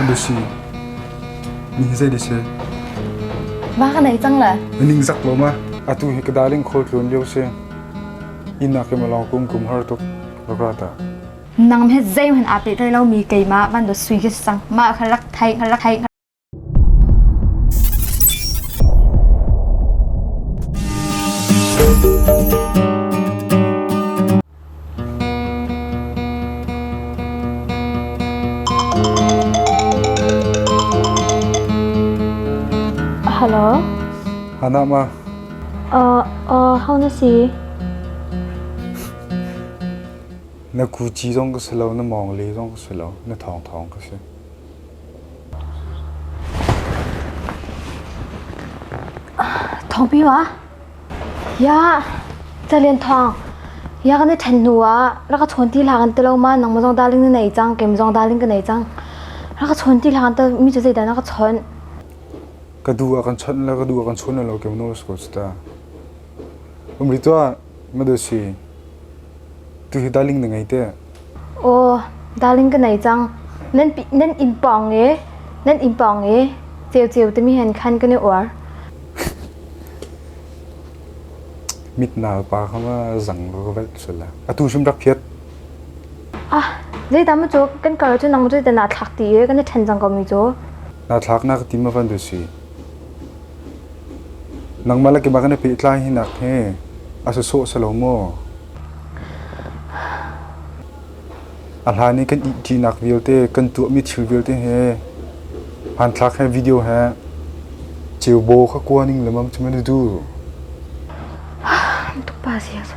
Lucy, nihin zei desi? Va ka nei cang le? Ning zak lo ma. Atu hi ka darling khol tlun lio si. Ina ke malau kum kum har tuk lagrata. Nang he zei hen ape thai lo mi keima van do sui ke sang ma kha rak thai kha rak thai Hello. Hana ma. Uh, uh, how na si? Na ku chi zong ka si lo, na mong le zong ka si lo, na thong thong ka si. Thawngpang ah Yah Calen Thawng Yah kan i ṭhen hnu ah rak ka chawn ti hla kan ti lo ma nangmah zong daling na nei cang kem zong daling ka nei cang rak ka chawn ti hla kan ti mi cu zeidah na ka chawnh ka du a kan chawnh la ka du a kan chawnh lo kem nosko ta umri tuah Tuhi darling na ngei te? Aw, darling ka nei cang. Nan inn pawng i, nan inn pawng i, ceu ceu timi hen khan kan i uar. Mit nal pa kha ma zang ka vet sula. Atu hrim rak phiat. Ah, zei ta mu cu kan kar cu nang cu na thlak ti i kan i ṭhen cang ko mi cu. Na thlak na ka ti ma van du si? Nangmah le keimah kan i pehtlai hinak hi a si sawh silo maw? A hlan i kan ihṭinak vialte, kan tuahmi thil vialte he, hmanthlak he, video he ceubaw kha kua ning lengmang cu maw na duh? Ka pa si a si.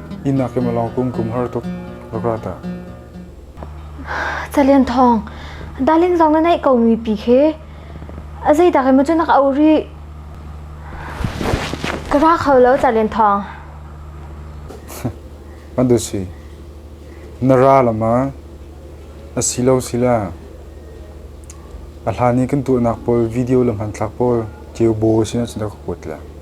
Inn ah keimah lawng kum kum har tuk rak ra dah. Calian thawng, darling zong na neih komi pi khi a zeidak emaw cu nak au rih. Ka ra kho lo Calian thawng. Madusi, na ra lama a si lo si la. A hlan i kan tuahnak pawl video le hmanthlak pawl ceu baw sinah sinah ka kuat la.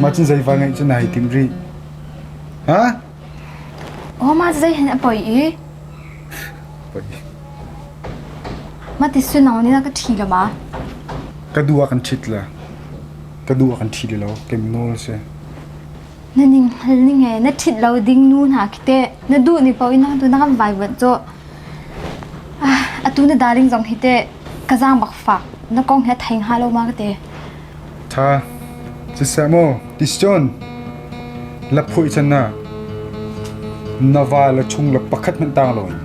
Mah cu zei va ngeih cu nai tim rih? Ha? Oh, mah zei hen a poi i? Poi. Mah ti sunong nih na ka ṭhi lo ma? Ka du ah kan ṭhit la. Ka du ah kan ṭhi lo. Kem nawl a si. Na ning hal ning he na ṭhit lo ding nu hna khi teh na duh ni paoh in tu na kan vaivuanh cu. Ah, atu na darling zong hi teh ka zaang bak fak na kong hi a thei hnga lo ma ka te. Ṭha, siseh maw Christian, laphuih can ah na va le chung le pakhat hmanh tang lo in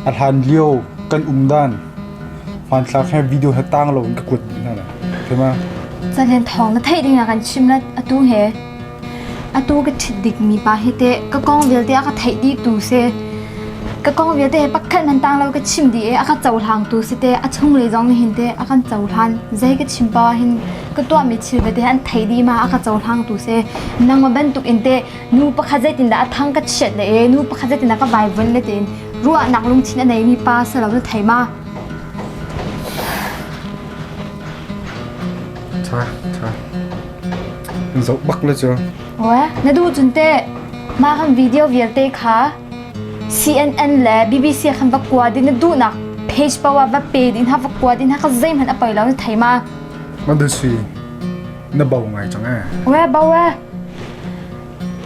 a hlan lio kan um dan hmanthlak he video he tang lo in ka kuat dih hna la. Thema. Caden thawng na theih ding ah kan chim let atu he. Atu ka ṭhit dikmi pa hi teh ka kong vialte a ka theih dihtu si. Ka kong vialte he pakhat nan tang lo ka chim dih i a ka cohlangtu si teh a chunglei zong nih hin teh a kan cohlan. Zei ka chim poah hin ka tuahmi thil vialte an thei dih ma a ka cohlangtu si. Nangmah bantuk in teh nu pakhat zeitindah a thang ka chiat le i nu pakhat zeitindah ka baibal le tiin ruahnak lungthin a neimi pa si lo na thei ma? Ṭha, ṭha. An zoh bak na cu. Oe, na duh cun teh mah kan video vialte kha CNN le BBC khan va kua ding na duhnak page pa wa va pe ding ha va kua ding ha ka zeihman a poi lo na thei ma? Ma da sui. Na bau ngai cang eh. Oe, bau eh.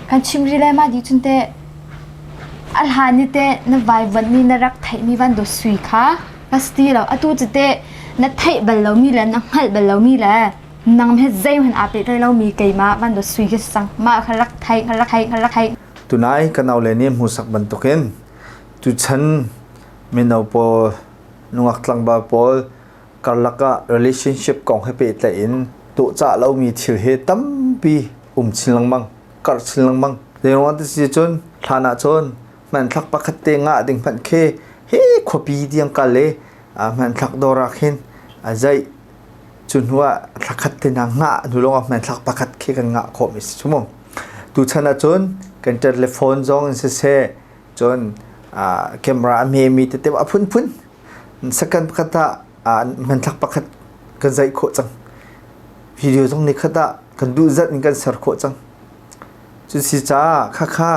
Kan chimri le ma di cun teh alhan ni te na vaivan ni na rak theih mi van do sui kha ka sti lo atu chu te na theih bal lomi le na hngalh bal lomi le nang hi zeihman aa te tlai lomi keimah van dot sui hi sang ma kha rak thai kha rak thai kha rak thai tunai kan au le nih hmusak bantukin tuchan mino pawl nungak tlangba pawl karlak ah relationship kong he pe tlai in to cha lomi thil he tampi um chin lengmang kar chin lengmang zeiruang ti si cun hlan ah cun man thak pakhat te nga ding hman khe he khuapi diang kal le hman thak dorak hin azai Cu hnu ah thla khat te na ngah hnu lawng ah hman thla pakhat khi kan ngah khawh mi si cu mu. Tuchan ahcun kan ṭet le phone zong in siseh cun ah camera a hme mi tete a phunphun second pakhat ah hmanthlak pakhat kan zaih khawh cang. Video zong nikhat ah kan duh zat in kan ser khawh cang. Cu si caah khakha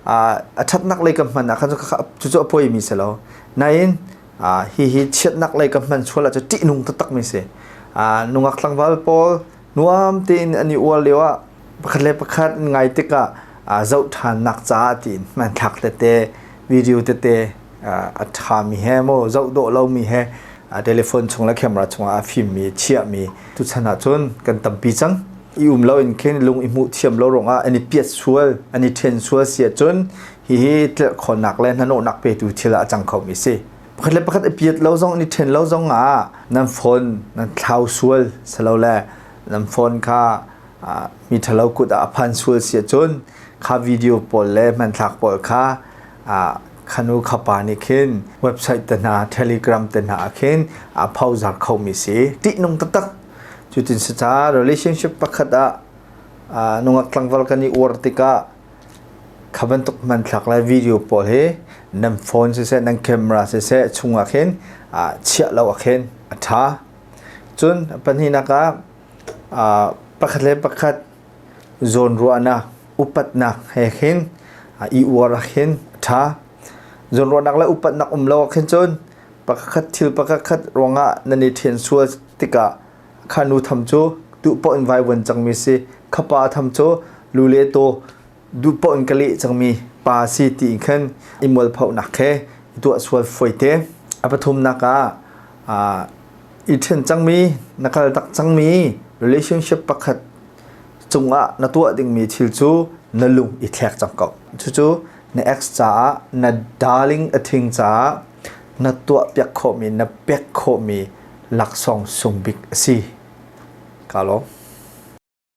a ṭhatnak lei kan hman ahkhan cucu a poi mi si lo. Nain Uh, hihi chiatnak lei ka hman sual ah cu ṭihnung taktakmi si. Uh, nungak tlangval pawl nuam tein an i uar lio ah pakhat le pakhat ngai tikah uh, zoh ṭhannak caah ti in man thlak tete video tete uh, a ṭhami he mo zoh dawh lomi he uh, telephone chung le camera chungah a fimmi chiahmi tu chan ah cun kan tampi cang i um lo in khin lung i hmuh thiam lo rongah an i piat sual an i ṭhen sual si ahcun Hihi tlirhkhawhnak le hnanawhnak petu thil ah a cang khomi si. Pakhat le pakhat i piat lo zong an i ṭhen lo zong ah nan phone nan thlau sual silole nan phone kha mi ṭhalo kut ah a phan sual si ahcun kha video pawl le hmanthlak pawl kha khanu khapa nih khin website te hna telegram te hna ah khin a phozar khomi si ṭihnung taktak cutin si ca relationship pakhat ah nungak tlangval kan i uar tikah Kha bantuk hmanthlak le video pawl hi nan phone siseh nan camera siseh chungah khin chiah lo ah khin a ṭha. Cun pahnihnak ah pakhat le pakhat zawnruahnak upatnak he khin i uar ah khin a ṭha. Zawnruahnak le upatnak um lo ah khin cun pakhat thil pakhat ruangah nan i ṭhen sual tikah Kha nu tham cu duhpoh in vaivuan cangmi si. Kha pa tham cu lu le taw duhpoh in ka leh cangmi pa si tiin khan i mualphonak he i tuah sual fawi te. A pathumnak ah aa i ṭhen cangmi, na kal tak cangmi relationship pakhat cungah na tuah dingmi thil cu na lung i thlek cang ko. Cucu na ex caah, na darling a thing caah na tuahpiak khawhmi, na pek khawhmi laksawng sung bik a si. Ka lawm.